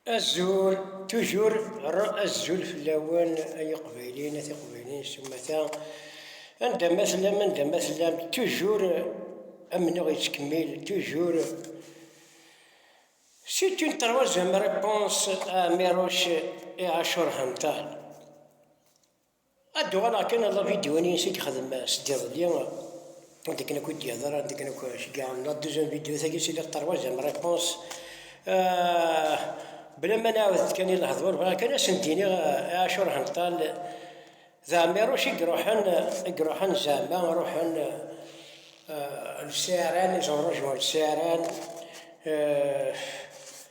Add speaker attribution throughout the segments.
Speaker 1: Azul, toujours azul fell-awen ay iqbayliyen a tiqbayliyin s umata, anda ma tellam anda ma tellam toujours amennuɣ yettkemmil toujours C'est une troisième réponse à Merouche et à Chorhantal. Ad d-uɣaleɣ kan ɣer lavidyuwan-ines i yexdem sed iḍelli, anda akken akk i d-yehder, anda akken akk ceggaɣen la deuxième vidéo tagi si la troisième réponse, bla ma nɛawed-d kan i lehdur, bɣiɣ kan ad sen-d-iniɣ i Ɛacur Henṭal d Ɛmiruc i iruḥen, i iruḥen zeɛma, ruḥen lsiɛran, ils ont rejoint lsiɛran.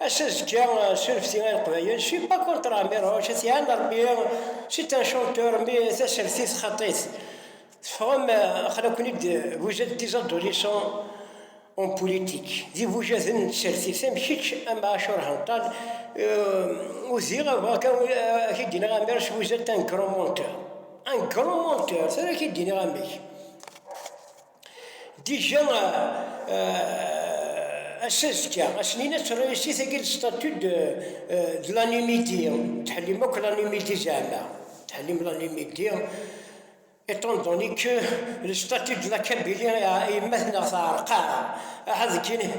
Speaker 1: Ass azekka s unefti a leqbayel, je suis pas contre la mer Roche, c'est un arbier, c'est un chanteur, mais tasertit xaṭit. Teffɣem, xla-ken-id, vous êtes des adolescents en politique, d ibujaden n tsertit, am kečč, am Aacur Hanṭal, euh, udiɣ abɣa kan ak id iniɣ amer si vous êtes un grand menteur. Un grand menteur, tura ak id iniɣ amek. Déjà, ass azekka, ass-nni ad terra yessi tagi le statut de, de l'animidi, tḥellim akk l'animidi zeɛma, tḥellim l'animidi, étant donné que le statut de la Kabylie yemma-tneɣ teɛreq-aɣ, aha deg kini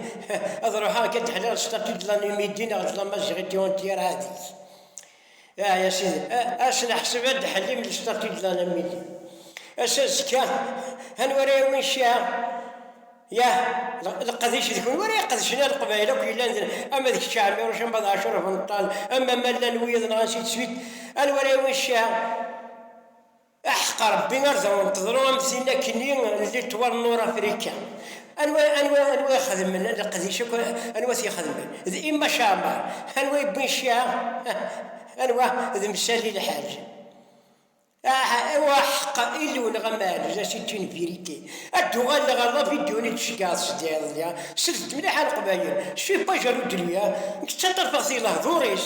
Speaker 1: ad ruḥeɣ ad d-ḥelliɣ le statut de l'animidi neɣ de l'amaziɣiti entière ɛad-it. Ah ya sidi, ad neḥseb ad d-ḥellim d lestatit d alamidi. Ass-a azekka, anwa ara yawin cciɛa? Yah, leqdic d kunwi ara iqedcen a leqbayel akk yellan din, ama d kečč Ɛmiruc, ama d Ɛacur Afenṭal, ama ma llan wiyaḍ nɣan si teswit, anwa ara yawin cciɛa? Aḥeqq Ṛebbi ar daɣen teḍru am tin akken i Litwa n Nurafrika. Anwa anwa anwa i xedmen leqdic akk anwa t-ixedmen? D Emma Sharman. Anwa i wwin cciɛa? Anwa? D Msali Lḥaǧ. Ah aw aḥeqq Illu neɣ amal la c'est une vérité. Ad d-uɣaleɣ ar la vidéo-nni d-tceggɛeḍ sdiɣ deg-a. Slet-d mliḥ a Leqbayel. Je suis pas jaloux de lui hein. Nekk ttaṭṭarfeɣ-t i lehdur-is.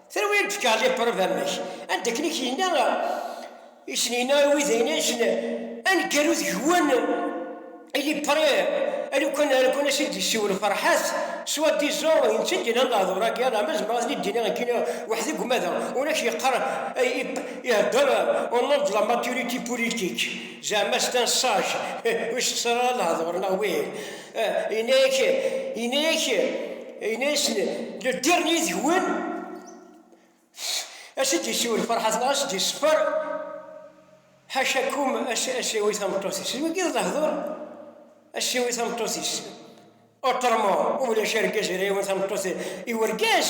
Speaker 1: Terwi ad d-fkeɣ lipreuve amek, anda akken i k-yenna, i sen-yenna i wid ayen asen, aneggaru deg-wen il est prêt, alukan alukan as i d-yessiwel Ferḥat, soit disant d netta i d-yennan lehdur-agi, alaama zemreɣ ad ten-id-iniɣ nekkini weḥd-i deg umadaɣ, ur ak-yeqqar ihedder au nom de la maturité politique, zeɛma c'est un sage, ur yessexṣar ara lehdur neɣ wih, yenna-ak, yenna-ak. Yenna-yasen, Leddi yid-wen! As-d-yessiwel lferḥat neɣ as-d-yesseffer, ḥacakum, as-yawi tameṭṭut-is. Deg wagi d lehdur, as-yawi tameṭṭut-is. Otrement, ulac argaz ara yawin tameṭṭut i urgaz.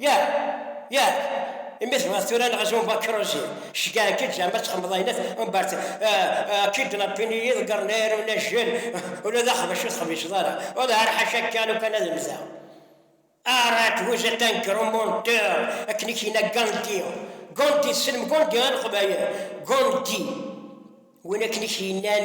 Speaker 1: Yak, yak, imi tebɣiḍ tura neɣ zun bakruzi, ceggaɛen-k-id zɛama ad txemmeḍ ayen umbert akka-id nebbin i yiḍeggren ay arun ajjel, ula d axbac ur texbiceḍ ara, ula ar ḥaca akka lukan ad mmteɣ ara tguza tanker au monteur akken i k-yenna Gandhi, Gandhi, tessnem Gandhi a leqbayel? Gandhi, win akken i k-yennan.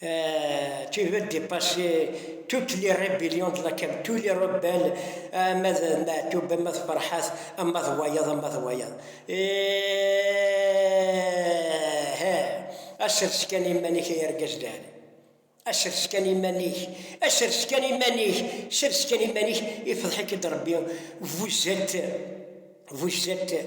Speaker 1: Euh, tu veux dépasser toutes les rébellions de la cam, tous les rebelles, ama d Maɛtub, ama d Ferḥat, ama d wayeḍ, ama d wayeḍ. Asers kan iman-ik ay argaz dali. Asers kan iman-ik, asers kan iman-ik, sers kan iman-ik, ifḍeḥ-ik-id Rebbi. Vous êtes, vous êtes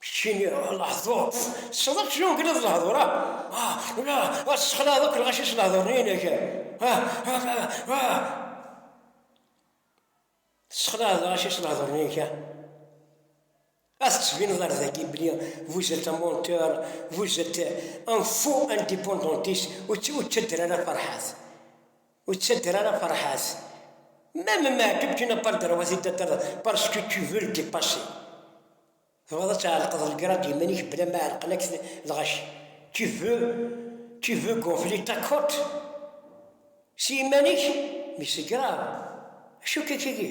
Speaker 1: Keččini lehdur tessneḍ keččini ur gneḍ lehdur ah ah la ah ssexlaɛeḍ akk lɣaci s lehdur-inek ah ah ah ah tessexlaɛeḍ lɣaci s lehdur-inek ah ad tettbineḍ ar dagi bli vous êtes un monteur vous êtes un faux indépendantiste ur ttadder ara farḥat Ur ttadder ara Ferḥat. Même Meɛtub tu n'as pas le droit d'y t'attendre parce que tu veux le dépasser. Tebɣiḍ ad tɛelqeḍ lgrad d iman-ik bla ma ɛelqen-ak lɣaci. Tu veux, tu veux gonfler ta cote s yiman-ik, mais c'est grave. Acu akka-agi?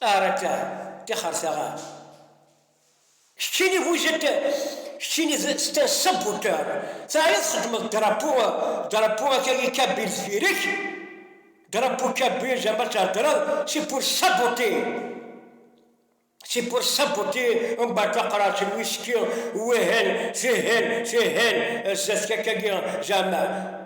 Speaker 1: Ar akka, tixer taɣar. Keččini bu jed, keččini c'est un saboteur, teɛyiḍ txeddmeḍ drapeau, drapeau aka i Kabyle deffir-k, drapeau Kabyle zerba ad theddreḍ, c'est pour saboter, c'est pour saboter un bateau qraj n whisky, wihin, tihin, tihin, zdat-k akka-agi, zeɛma.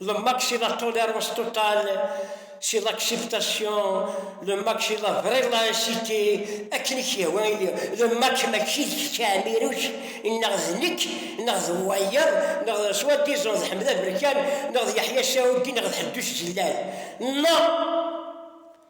Speaker 1: Le maxilla tolère os total si l'acceptation, le maxilla vrai la incité, akken i k-yehwa ili, le max mačči d kečč ɛmiruc, neɣ d nekk, neɣ d wayeḍ, neɣ d soit disant d Ḥmed Aberkan, neɣ d Yeḥya Saudi, neɣ d Ḥeddus Jellal, neɣ.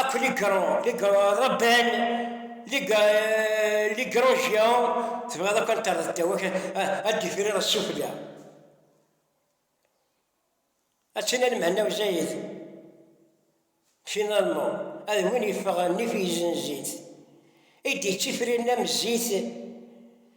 Speaker 1: Akk ligro, ligro rebban, ligrojya, tebɣiḍ akk ad terreḍ ddaw, ad d-ifrir ssufella. Ad tina lemhenna uzayit, finalement, ad win yeffeɣ nnif yezzen zzit, i d-yettifriren am zzit,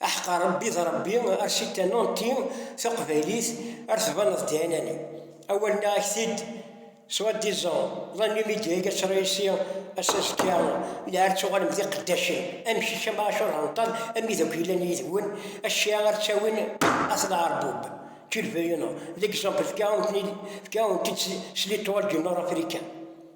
Speaker 1: Aḥeq a Rebbi d Rebbi ar sitta Nanti taqbaylit ar tbaneḍ diɛinani awal nneɣ a k-t-id soit disant la Numidia i as réussi a s'azekka lɛar tuɣalem d iqeddacen am kečč am Ɛacur Henṭal am wid akk yellan yid-wen acca ar ttawin at lɛerbub tu le veux ou non l'exemple fka-awen-t-id s l'étoile du nord africain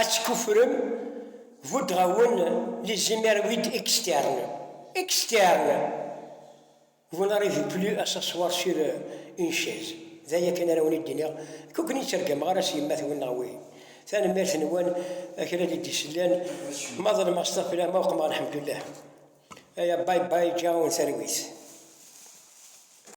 Speaker 1: Ad tekuffrem, buddeɣ-awen les hémérroïdes externes, externes! Vous n'arrivez plus à s'asseoir sur une chaise, d aya kan ara awen-id-iniɣ, nekk ur ken-id-ttergameɣ ara s yemma-twen neɣ wihin. Tanemmirt-nwen a kra n id-isellan, ma ḍelmeɣ s tafla, ma uqmeɣ lḥemdullah. Aya bye bye, ǧǧiɣ-awen talwit.